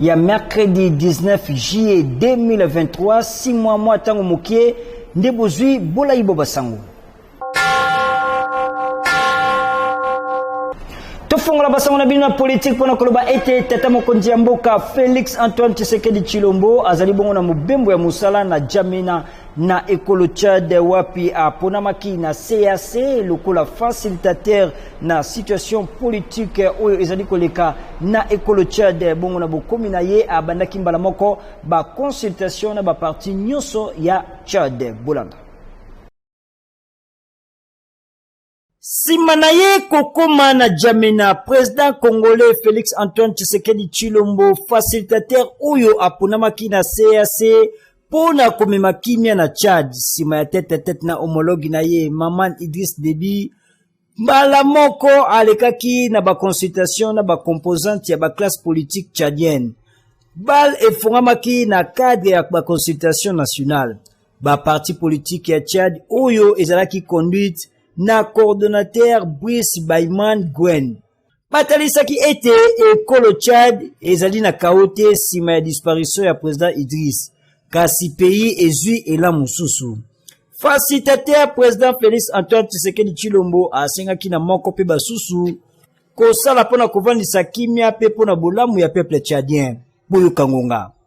ya mercredi 19 juillet 2023 6 mois mwa ntango mokie nde bozwi bolai bwa basango tofongola basango na bino na politike mpo na koloba ete tata mokonzi ya mboka felix antoine tshisekedi tshilombo azali bongo na mobembo ya mosala na jamena na ekolo Tchad wapi aponamaki na CAC lokola facilitateur na situation politique oyo ezali koleka na ekolo Tchad. Bongo na bokomi na ye abandaki mbala moko ba consultation na ba parti nyonso ya Tchad. Bolanda. Sima na ye kokoma na Djamena, president congolais Felix Antoine Tshisekedi Tshilombo, facilitateur oyo aponamaki na CAC mpo na komema kimia na Tchad, sima ya tete tete na homologue na ye Maman Idriss Deby, mbala moko alekaki na ba consultation na ba composante ya ba classe politique tchadienne. Bal efongamaki na cadre ya ba consultation nationale. Ba parti politique ya Tchad oyo ezalaki conduite na coordonnateur Brice Bayman Gwen batalisaki ete ekolo Tchad ezali na kao te nsima ya disparition ya president Idriss kasi pays ezwi elan mosusu. Facilitateur president Felix Antoine Tshisekedi Chilombo asengaki na moko mpe basusu kosala mpo na kovandisa kimia mpe mpo na bolamu ya peuple tchadien. Boyoka ngonga.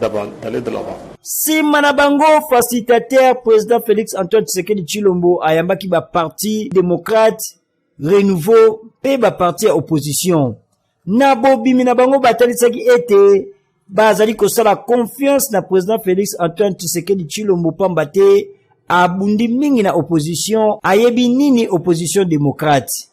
d'aller de l'avant. nsima na bango facilitateur président félix antoine tshisekedi tshilombo ayambaki baparti démocrate renouveau mpe baparti ya opposition na bobimi na bango batalisaki ete bazali kosala confiance na président félix antoine tshisekedi tshilombo mpamba te abundi mingi na opposition ayebi nini opposition démocrate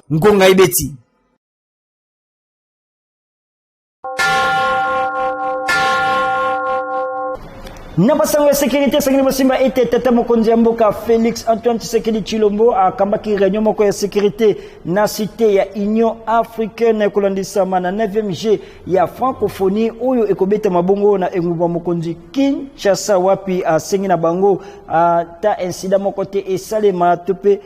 ngonga ebeti na basango ya sekurité esengeli bosimba ete tata mokonzi ya mboka félix antoine tshisekedi tshilombo akambaki réunion moko ya sécurité na cité ya union africaine kolandisama na 9e g ya francophonie oyo ekobetama bongo na engumba mokonzi kinshasa wapi asengi na bango ata insida moko te esalema to mpe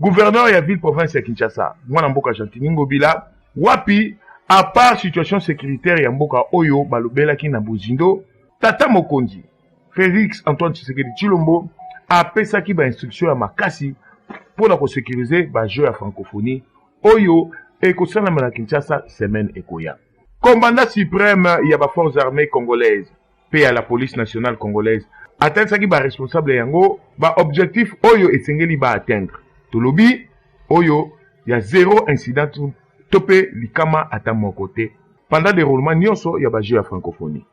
Gouverneur ya ville province ya Kinshasa, mwana mboka Gentiny Ngobila, wapi à part situation sécuritaire ya mboka oyo balobelaki na bozindo, tata mokonzi Felix Antoine Tshisekedi Tshilombo apesaki ba instruction ya makasi mpo na kosekirize ba jeux ya francophonie oyo ekosalama na Kinshasa semaine ekoya. Commandant supreme ya ba forces armees congolaises mpe ya la police nationale congolaise atalisaki ba responsable yango ba objectif oyo esengeli ba atteindre tolobi oyo ya zero incident to mpe likama ata moko te pendant deroulement nyonso ya ba jeux ya francophonie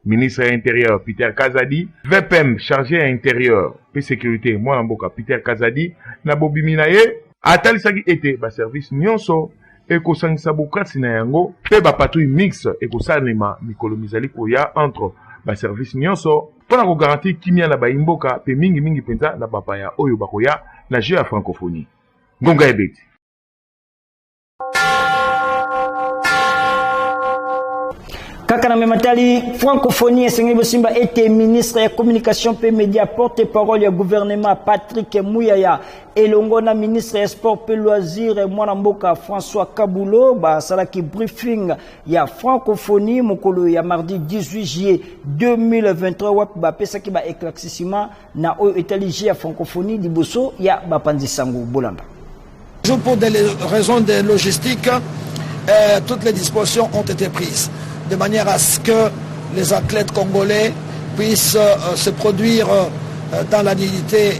ministre ya interieur peter kazadi vpm charge ya interieur mpe securite mwana mboka peter kazadi na bobimi na ye atalisaki ete baservice nyonso ekosangisa bokasi na yango mpe bapatrouille mixte ekosalema mikolo mizali koya entre baservice nyonso mpo na kogarantir kimya na baimboka mpe mingimingi mpenza na bapaya oyo bakoya na jeu ya francophonie. Ngonga ebeti. kaka na mema tali francophonie esengeli bosimba ete ministre ya communication mpe media porte parole ya gouvernement patrick muyaya elongo na ministre ya sport mpe loisir mwana mboka françois kabulo basalaki briefing ya francophonie mokolo ya mardi 18 juillet 2023 wapi bapesaki ba éclaircissement na oyo etali jeu ya francophonie liboso ya bapanzi sango bolanda Toujours pour des raisons de logistique, euh, toutes les dispositions ont été prises de manière à ce que les athlètes congolais puissent euh, se produire euh, dans la dignité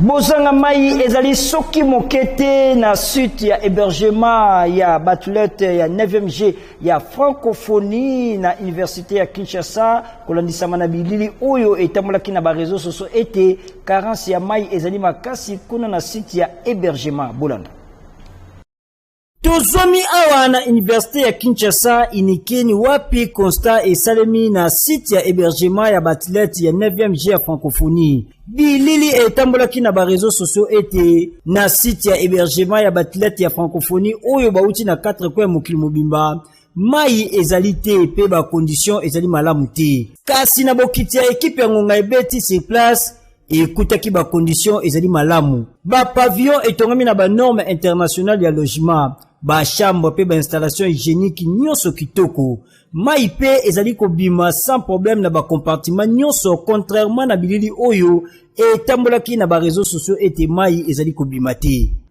Bozanga mai ezali soki moke te na site ya hébergement ya batulete ya 9e g ya francophonie na université ya Kinshasa kolandisama na bilili oyo etambolaki na bareseau soso ete carence ya mai ezali makasi kuna na site ya hébergement bolanda Tozomi awa na Universite ya Kinshasa Inikeni wapi constat esalemi na site ya hébergement ya baathlète ya 9e G ya francophonie. Bilili etambolaki na ba réseaux sociaux ete na site ya hébergement ya baathlète ya francophonie oyo bauti na 4 coin ya mokili mobimba mai ezali te mpe ba conditions ezali malamu te. Kasi na bokiti ya ekipe ya ngonga ebeti sur place ekutaki ba conditions ezali malamu ba pavillon etongami na ba norme internationale ya logement ba chambre mpe ba installation hygiénique nyonso kitoko mai mpe ezali kobima sans problème na ba compartiment nyonso contrairement na bilili oyo etambolaki na ba réseaux sociaux ete mai ezali kobima te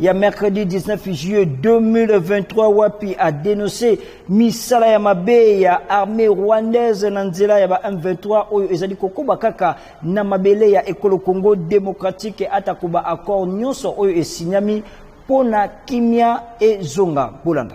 ya mercredi 19 juillet 2023 wapi a denonce misala ya mabe ya armée rwandaise na nzela ya ba M23 oyo ezali kokoba kaka na mabele ya ekolo Congo démocratique atako ba accord nyonso oyo esinyami mpo na kimia ezonga bolanda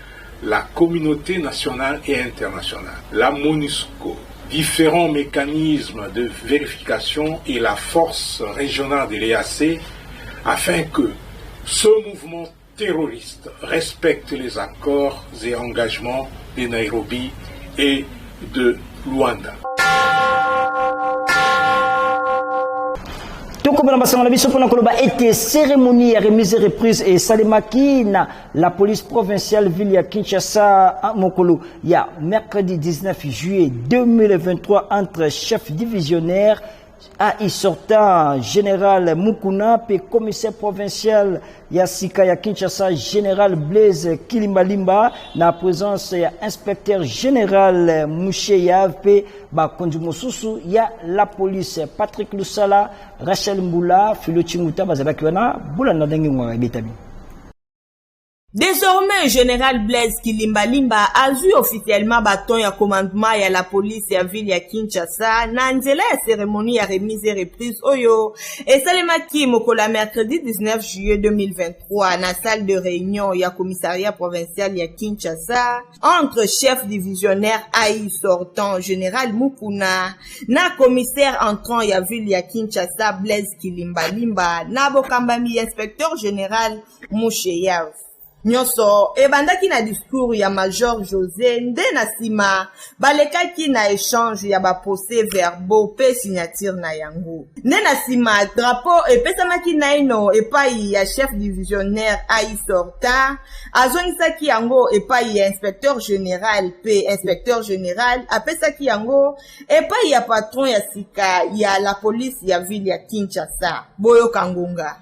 la communaute nationale et internationale, la Monusco, differents mecanismes de verification et la force regionale de l'EAC afin que ce mouvement terroriste respecte les accords et engagements de Nairobi et de Luanda. tokobela masanga na biso mpona koloba ete ceremonie ya remise reprise esalemaki na La police provinciale ville ya Kinshasa a mokolo ya mercredi 19 juillet 2023 entre chef divisionnaire AI sortant général Mukuna pe commissaire provincial ya sika ya Kinshasa général Blaise Kilimbalimba na présence ya inspecteur général Musheya pe bakonzi mosusu ya la police Patrick Lusala, Rachel Mbula, Philo Chinguta bazalaki wana bolanda ndenge ngwanga ebetami. Désormais, General Blaise Kilimbalimba azwi officiellement baton ya commandement ya la police ya ville ya Kinshasa na nzela ya cérémonie ya remise et reprise oyo esalemaki mokolo ya mercredi 19 juillet 2023 na salle de réunion ya commissariat provincial ya Kinshasa entre chef divisionnaire ai sortant général mukuna na commissaire entrant ya ville ya kinshasa blaise kilimbalimba na bokambami ya inspecteur général musheyev nyonso ebandaki na discours ya major josé nde na nsima balekaki na echange ya baprocès verbaux mpe signature na yango nde na nsima drapo epesamaki naino epai ya chef divisionnaire aisorta azongisaki yango epai ya inspecteur général mpe inspecteur général apesaki yango epai ya patron ya sika ya la polise ya ville ya kinshasa boyoka ngonga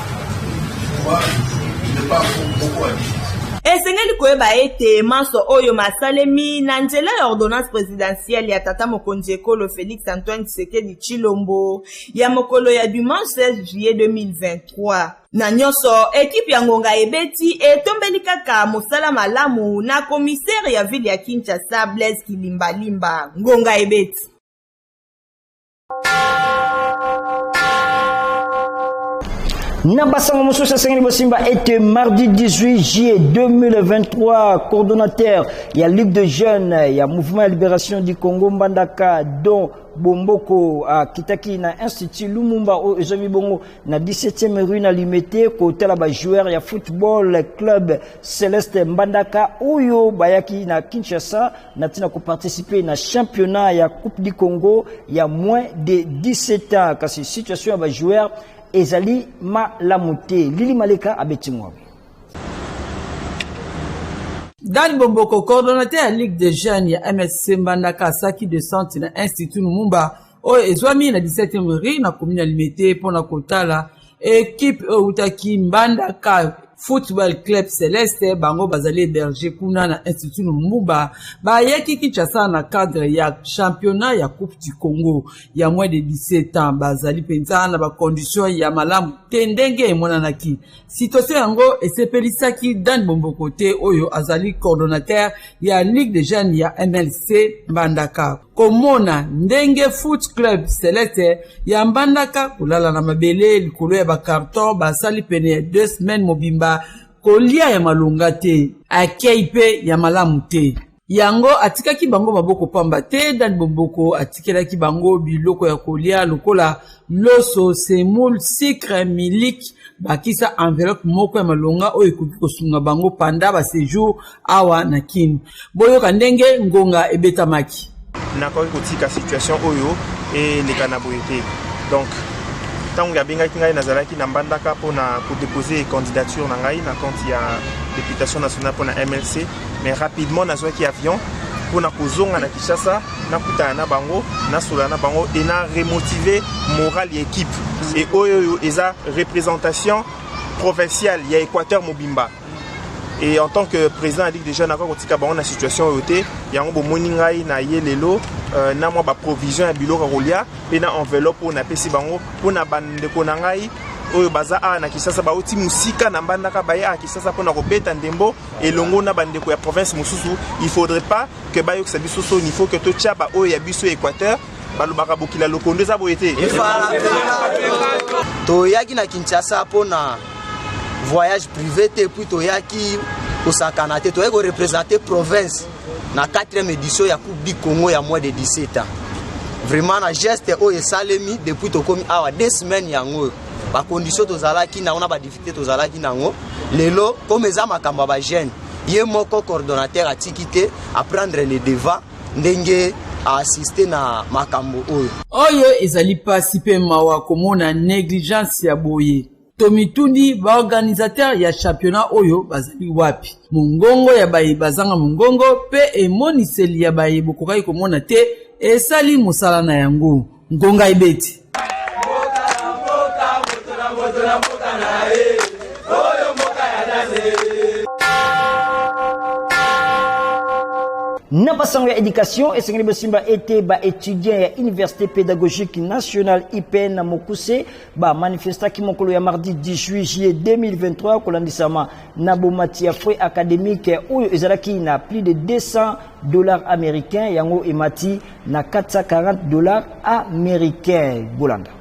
Esengeli koyeba ete manso oyo masalemi na nzela ya ordonnance presidentielle ya tata mokonzi ekolo Felix Antoine Tshisekedi Tshilombo ya mokolo ya dimanche 16 juillet 2023. Na nyonso, ekipe ya ngonga ebeti etombeli kaka mosala malamu na commissaire ya ville ya Kinshasa Blaise Kilimbalimba. Ngonga ebeti. na basango mosusu esengeli bosimba ete mardi 18 juillet 2023 coordonnateur ya ligue de jeunes ya mouvement ya libération du congo mbandaka don bomboko akitaki na institut lumumba oyo ezwami bongo na 17e rue na limete kotala bajoueur ya football club celeste mbandaka oyo bayaki na kinshasa na ntina koparticipe na championnat ya coupe du congo ya moins de 17 ans kasi situation ya bajoueur ezali malamu te lili maleka abeti ngwabi Dan Bomboko, coordonnateur ya Ligue des jeunes ya MSC Mbandaka asaki de centre na Institut Lumumba oyo ezwami na 17e rue na commune ya Limete mpo na kotala ekipe oyo eutaki mbandaka football club celeste bango bazali héberge kuna na institut lumumba bayaki kinshasa na cadre ya championnat ya coupe du congo ya moins de 17 ans bazali mpenza na bacondition ya malamu te ndenge emonanaki situation yango esepelisaki dan bombokote oyo azali coordonnateur ya ligue de jeunes ya mlc mbandaka komona ndenge foot club celeste ya mbandaka kolala na mabele likolo ya bakarton basali pene ya deux semaine mobimba kolia ya malonga te akei mpe ya malamu te yango atikaki bango maboko pamba te dan bomboko atikelaki bango biloko ya kolia lokola loso, semoule, sucre, miliki, bakisa enveloppe moko ya malonga oyo ekoki kosunga bango panda ba sejour awa na Kin. Boyoka ndenge ngonga ebetamaki. Nakoki kotika situation oyo eleka na boye te. Donc, ntango abengaki ngai nazalaki na mbandaka mpo na kodepose candidature na ngai na compte ya députation nationale mpo na MLC, mais rapidement nazwaki avion mpo na kozonga na Kinshasa. nakutana na bango nasolola na bango e na remotive morale ya ekipe e oyo oyo eza représentation provinciale ya équateur mobimba et en tant que président ya ligue déjà nakoki kotika bango na situation oyo te yango bomoni ngai na ye lelo euh, na mwa baprovision ya biloko ya kolia mpe na enveloppe oyo napesi bango mpo na bandeko na ngai oyo baza awa na kisasa bauti mosika na mbandaka baye awa kisasa mpo na kobeta ndembo elongo na bandeko ya province mosusu il faudrait pas que bayokisa biso soni faut que totya baoyo ya biso ya équateur balobaka bokila lokondo eza boye te toyaki na kinshasa mpo na voyage privé te puis toyaki kosakana te toyaki korepresente province na 4e édition ya coupe du congo ya mois de 17 ans vraiment na geste oyo esalemi depuis tokomi awa 2 semaine yango oyo bacondition tozalaki nango na badifficulté tozalaki nango lelo comme eza makambo ya bagene ye moko coordonnateur atiki te aprendre le devant ndenge aassiste na makambo oyo oyo ezali mpasi mpe mawa komona negligence ya boye tomituni baorganisateur ya championnat oyo bazali wapi mongongo ya baye bazanga mongongo mpe emoniseli ya baye bokokaki komona te esali mosala na yango ngonga ebeti na basango ya education esengeli bosimba ete baetudiant ya université pédagogique nationale ipn na mokuse bamanifestaki mokolo ya mardi 18 juillet 2023 kolandisama na bomati ya frais académique oyo ezalaki na plus de 200 dollars américains yango emati na 440 dollars americains bolanda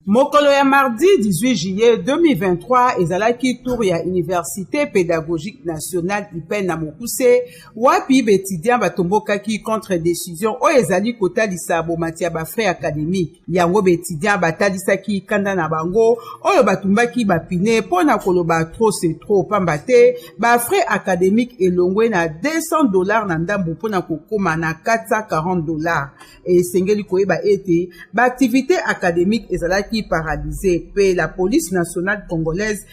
mokolo ya mardi 18 juillet 2023 ezalaki tour ya université pédagogique nationale ipel na mokuse wapi baetudiant batombokaki contre décision oyo ezali kotalisa bomati ya bafrais académique yango baetudiant batalisaki kanda na bango oyo batumbaki bapine mpo na koloba trop se trop mpamba te bafrais académique elongwe na 200 dollars na ndambo mpo na kokóma na 440 dollars esengeli koyeba ete baaktivité académique ezalaki paralyse mpe la police nationale congolaise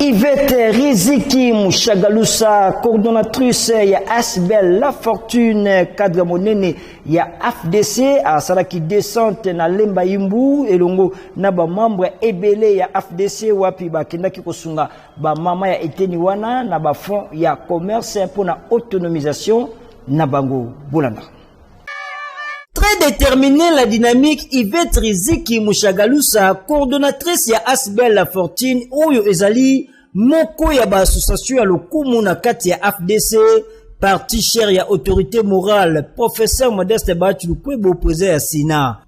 Yvette Riziki Mushagalusa, coordonnatrice ya Asbel La Fortune, cadre monene ya AFDC, asalaki descente na Lemba Imbu, elongo na ba membre ebele ya AFDC wapi bakendaki kosunga ba mama ya eteni wana na ba fonds ya commerce pour na autonomisation na bango. Bolanda. Très déterminée la dynamique Yvette Riziki Mushagalusa, coordonnatrice ya Asbel La Fortune, oyo ezali moko ya ba association ya lokumu na kati ya AFDC, parti cher ya autorité morale, professeur Modeste Bachu Lukwebo, président ya Sina.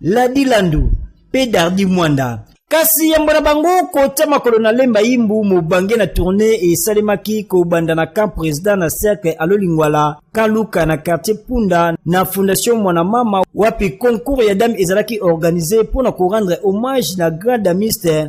Ladi Landu mpe Dardi Mwanda. Kasi yambo na bango kotya makolo na Lemba Yimbu mobange na tournee esalemaki kobanda na camp president na cercle Alolingwala Kaluka na quartier Punda na Fondation Mwana Mama wapi concours ya dame ezalaki organise mpo na korendre hommage na grand damiste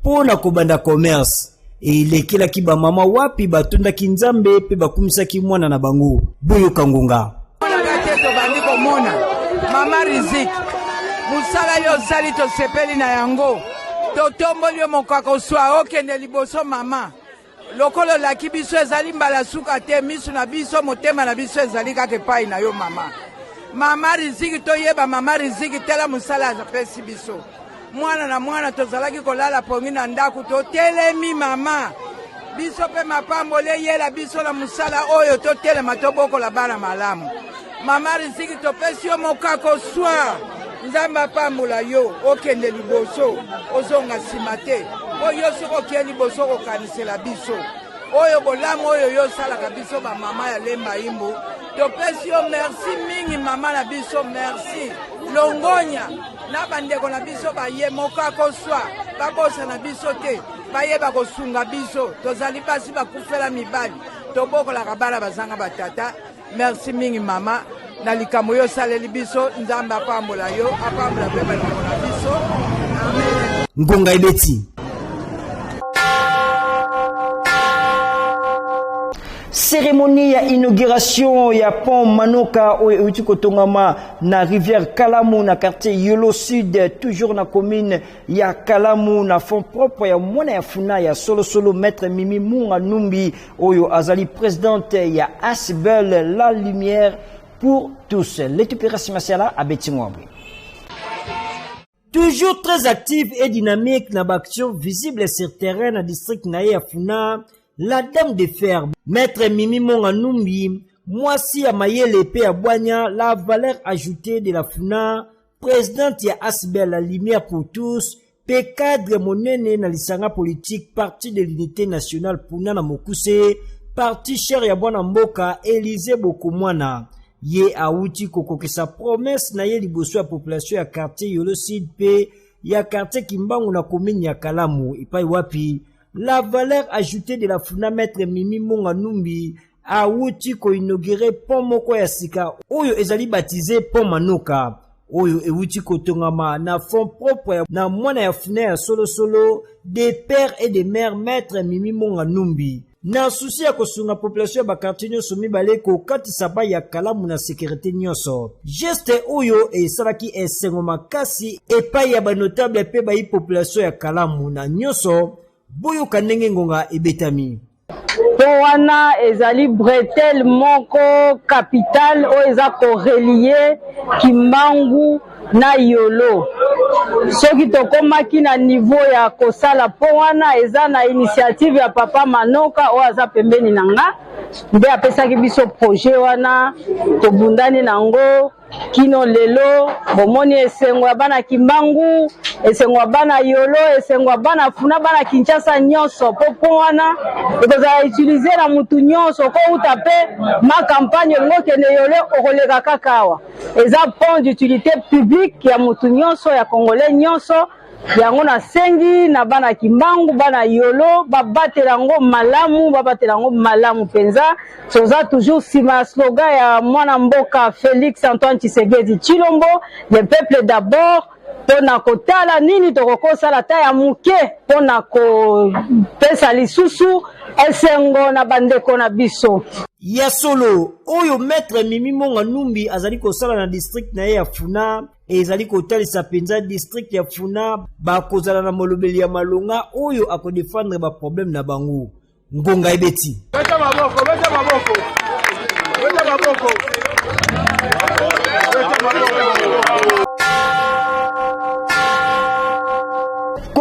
Mpo na kobanda commerce, elekelaki bamama wapi batondaki Nzambe mpe bakumisaki mwana na bango. Boyoka ngonga. tobandi komona mama riziki mosala yo osali tosepeli na yango totomboli yo mokako swa okende liboso mama lokola olaki biso ezali mbala suka te misu na biso motema na biso ezali kaka epai na yo mama mama riziki toyeba mama riziki tela mosala apesi biso mwana na mwana tozalaki kolala pongi na ndako totelemi mama biso mpe mapamboli eyela biso na mosala oyo totelema tobokola bana malamu Mama Riziki, topesi yo mokako swa. Nzambe apambola yo, okende liboso, ozonga nsima te, mpo yo soki okei liboso okokanisela biso oyo bolamu oyo yo osalaka biso bamama ya lemba imbu topesi yo merci mingi mama na biso merci longonya na bandeko na biso baye moko akoswa babosana biso te baye bakosunga biso tozali basi bakufela mibali tobokolaka bana bazanga batata Merci mingi mama na likambo yo osaleli biso nzambe apambola yo apambola mpe bandeko na biso amen ngonga ebeti cérémonie ya inauguration ya pont manoka oyo euti kotongama na rivière kalamu na quartier yolo sud toujours na commune ya kalamu na fond propre ya mwana ya funa ya solosolo maître mimi munga numbi Oyo azali presidente ya Asbel La Lumière pour tous. Letiperasi Masiala abeti ngombe. Toujours très active et dynamique na baaction visible sur terrain na district na ye ya Funa, la dame de fer, maître Mimi Monga Numbi, mwasi ya mayele mpe ya bwanya, la valeur ajoutée de la Funa, Presidente ya Asbel la Lumière pour tous mpe cadre monene na lisanga politike Parti de l'Unité nationale puna na mokuse parti cher ya bwana mboka Elize Bokomwana ye awuti kokokisa promese na ye liboso ya population ya quartier Yolo Sud mpe ya quartier Kimbangu na commune ya Kalamu epai wapi la valeur ajoutée de la Funa Maître Mimi Monga Numbi awuti koinogire pont moko ya sika oyo ezali batize pont Manoka oyo ewuti kotongama na fond propre na mwana ya funa ya solosolo de père et de mère maître Mimi Monga Numbi na susi ya kosunga population ya bakartier nyonso mibale kokatisa bai ya kalamu na sekirite nyonso geste oyo esalaki esengo makasi epai ya banotable mpe bai population ya kalamu na nyonso boyoka ndenge ngonga ebetami po wana ezali bretelle moko capitale oyo eza korelie kimbangu na yolo soki tokomaki na niveau ya kosala po wana eza na initiative ya papa manoka oyo aza pembeni na nga nde apesaki biso projet wana tobundani na yango kino lelo bomoni esengo ya bana Kimbangu, esengo ya bana Yolo, esengo ya bana Funa, bana Kinshasa nyonso mpo mpo wana ekozala utilize na mutu nyonso okouta mpe ma campagne olingi okende Yolo okoleka kaka awa eza pont d'utilité publique ya mutu nyonso ya congolais nyonso yango nasengi na bana kimbangu bana yolo babatela yango malamu babatela yango malamu mpenza toza toujours nsima ya slogan ya mwana mboka félix antoine tshisegedi tshilombo le peuple d'abord mpo na kotala nini tokoki kosala ata ya moke mpo na kopesa lisusu esengo na bandeko na biso ya solo oyo maître mimi monga numbi azali kosala na district na ye ya funa ezali kotalisa mpenza district ya funa bakozala na molobeli ya malonga oyo akodefendre baproblème na bango ngonga ebeti beta maboko, beta maboko. Beta maboko. Beta maboko.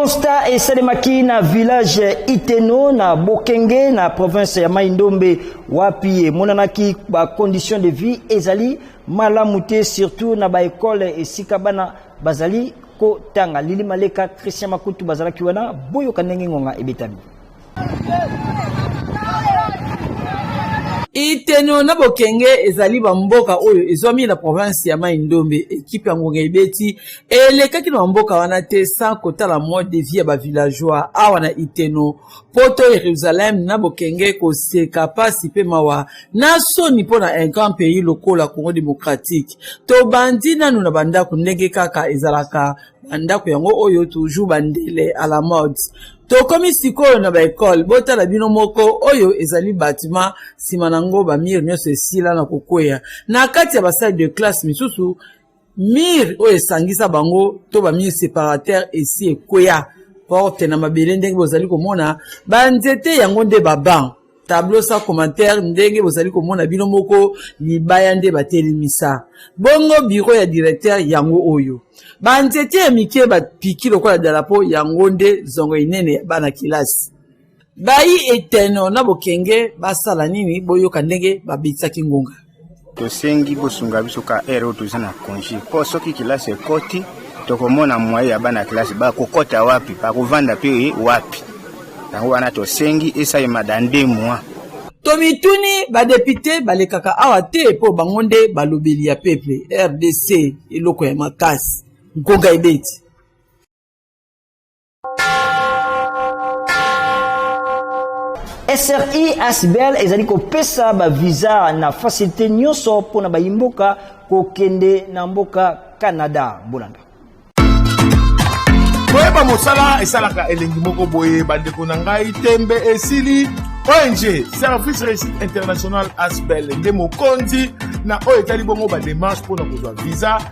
constat esalemaki na village iteno na bokenge na province ya mai ndombe wapi emonanaki bacondition de vie ezali malamu te surtout na ba ekole esika bana bazali kotanga lili maleka christian makutu bazalaki wana boyoka ndenge ngonga ebetami iteno na bokenge ezali bamboka oyo ezwami na province ya mai ndombe ekipe ya ngonga ebeti elekaki na bamboka wana te sans kotala mode de vie ya bavillageois awa na iteno poto Yerusalem na bokenge koseka pasi pe mawa na soni mpo na un grand pays lokola Congo démocratique tobandi nanu na bandako ndenge kaka ezalaka bandako yango oyo toujours bandele à la mode tokomi sikoyo na baekole botala bino moko oyo ezali batima nsima na yango bamire nyonso esila na kokwea na kati ya basale de classe misusu mire oyo esangisa bango to bamire separateur esi ekweya porte na mabele ndenge bozali komona banzete yango nde baban tableau sans commentaire ndenge bozali komona bino moko libaya nde batelemisa bongo biro ya directeur yango oyo banzete ya mike bapiki lokola dalapo yango nde zongo enene ya bana-kelasi bayi eteno na bokenge basala nini boyoka ndenge babitisaki ngonga tosengi bosunga biso ka ere oyo toza na konji mpo soki kilasi ekoti tokomona mwaye ya bana kilasi bakokɔta wapi bakovanda mpe wapi yango wana tosengi esalema da nde mwa tomituni badepute balekaka awa te mpo bango nde balobeli ya peple rdc eloko ya makasi nkoga ebeti sri asbl ezali kopesa bavisa na fasilite nyonso mpo na bayimboka kokende na mboka canada bolanda koyeba mosala esalaka elengi moko boye bandeko na ngai tembe esili ong service réussite international asbel nde mokonzi na oyo etali bongo bademarche mpo na kozwa visa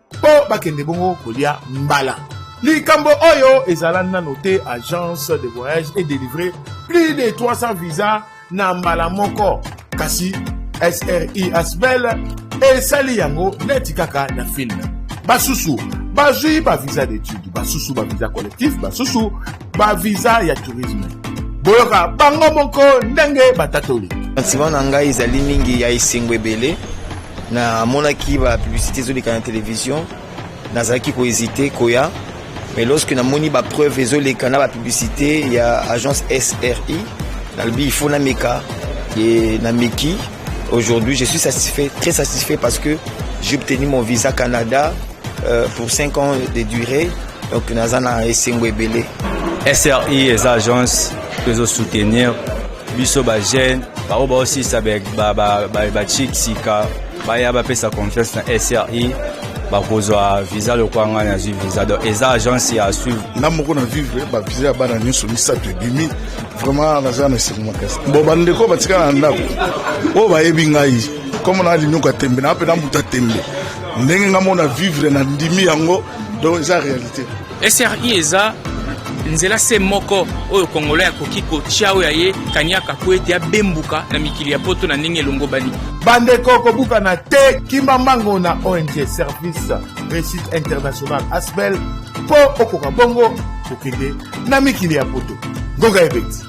mpo bakende bongo kolia mbala likambo oyo ezala nano te agence de voyage et délivrer plus de 300 visa na mbala moko kasi sri asbel esali yango neti kaka na filme basusu bazwi bavisa d'étude basusu bavisa collectif basusu ba visa ya tourisme boyoka bango moko ndenge batatoli sentiment na ngai ezali mingi ya esengo ebele namonaki ba publicité ezoleka na télévision nazalaki kohésite koya mais lorsque namoni ba preuve ezoleka na ba publicité ya agence sri nalobi il faut nameka ye nameki aujourd'hui je suis satisfait très satisfait parce que j'ai obtenu mon visa canada Euh, pour 5 ans de durée, donc naza na esengo ebele. SRI eza agence tozo soutenir biso ba jeunes baoyo baosilisa bachik sika baya bapesa confiance na SRI bakozwa visa lokola ngai nazwi visa donc eza agence ya suivre nga moko na vivre bavisa ya bana nyonso misato ebimi vraiment naza na esengo makasi bo bandeko batikala na ndako oyo bayebi ngai comme na linyoka tembe na mpe na mbuta tembe ndenge nga mona vivre na ndimi yango donc eza réalité sri eza nzela se moko oyo kongola akoki kotya oyo ya ye kaniaka po ete abembuka na mikili ya poto na ndenge elongobani bandeko kobukana te kimba mbango na ong service réussite international asbel mpo okoka bongo kokende na mikili ya poto ngoka ebeti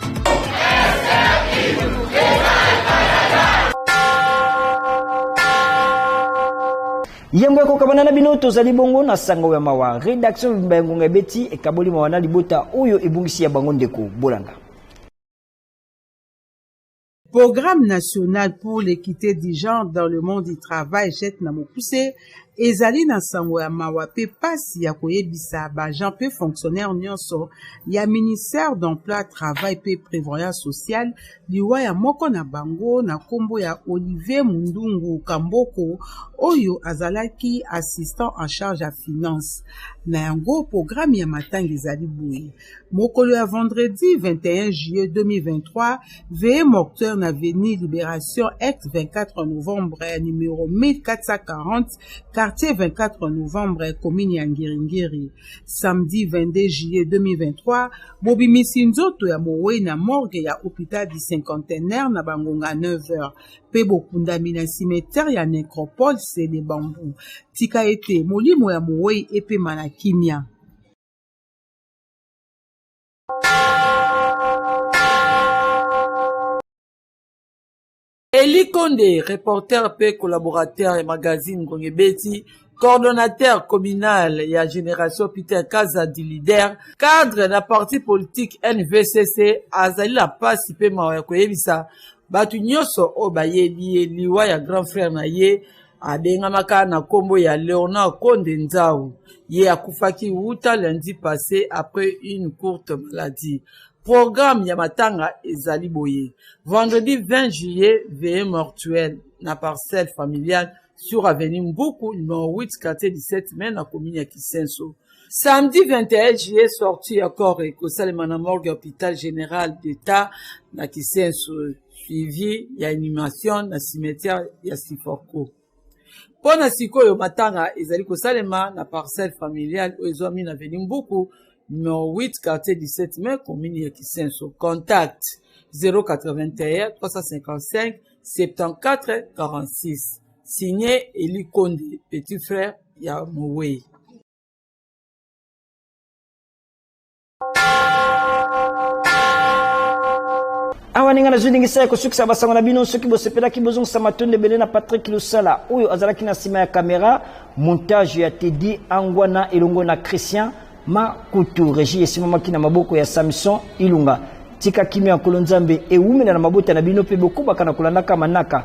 yambo ya kokabana na bino tozali bongo na sango ya mawa redaction mobimba ya ngonga ebeti ekaboli mawa na libota oyo ebungisi ya bango ndeko bolanda Programme national pour l'equite du genre dans le monde du travail jet na mokuse ezali na nsango ya mawa mpe mpasi ya koyebisa baagent mpe fonctionnaire nyonso ya ministère d'emploi travail mpe prévoyance sociale liwa ya moko na bango na nkombo ya olivier mundungu kamboko oyo azalaki assistant en charge ya finance na yango programme ya matanga ezali boye mokolo ya vendredi 21 juillet 2023 veye morteur na veni libération ex 24 novembre ya numero 1440 quartier 24 novembre commune ya ngiringiri samedi 22 juillet 2023 bobimisi nzoto ya mowei na morgue ya hôpital du cinquantenaire na bangonga 9h mpe bokundami na cimetière ya necropole sele bambu tika ete molimo ya mowei epema na kimia Eli Konde, reporter mpe collaborateur ya magazine Ngonge Beti, coordonnateur communal ya Generation Peter Kaza du leader, cadre na parti politique NVCC azali na mpasi mpe mawa ya koyebisa bato nyonso oyo bayebi ye liwa ya grand frère na ye Abengamaka na kombo ya Leonard Konde Nzau. Ye akufaki wuta lundi passé après une courte maladie. Programme ya matanga ezali boye. Vendredi 20 juillet, veillée mortuelle na parcelle familiale sur avenue Mbuku numéro 8 quartier 17 mai na commune ya Kisenso. Samedi 21 juillet, sortie ya corps ekosalema na morgue ya hôpital général d'État na Kisenso, suivi ya inhumation na cimetière ya Siforco. Mpo na sikoyo matanga ezali kosalema na parcelle familiale oyo ezwami na avenue Mbuku numero 8 quartier 17 mai commune ya Kisenso. Contact 081 355 74 46. Signé Eli Konde, petit frère ya mowei awa ndenge nazwi ndingisa ya kosukisa basango na bino soki bosepelaki bozongisa matondo ebele na patrik losala oyo azalaki na nsima ya kamera montage ya tedi angwana elongo na christian makutu regi esimamaki na maboko ya samson ilunga tika kimia ya nkolo nzambe ewumela na mabota na bino mpe bokobaka na kolandaka manaka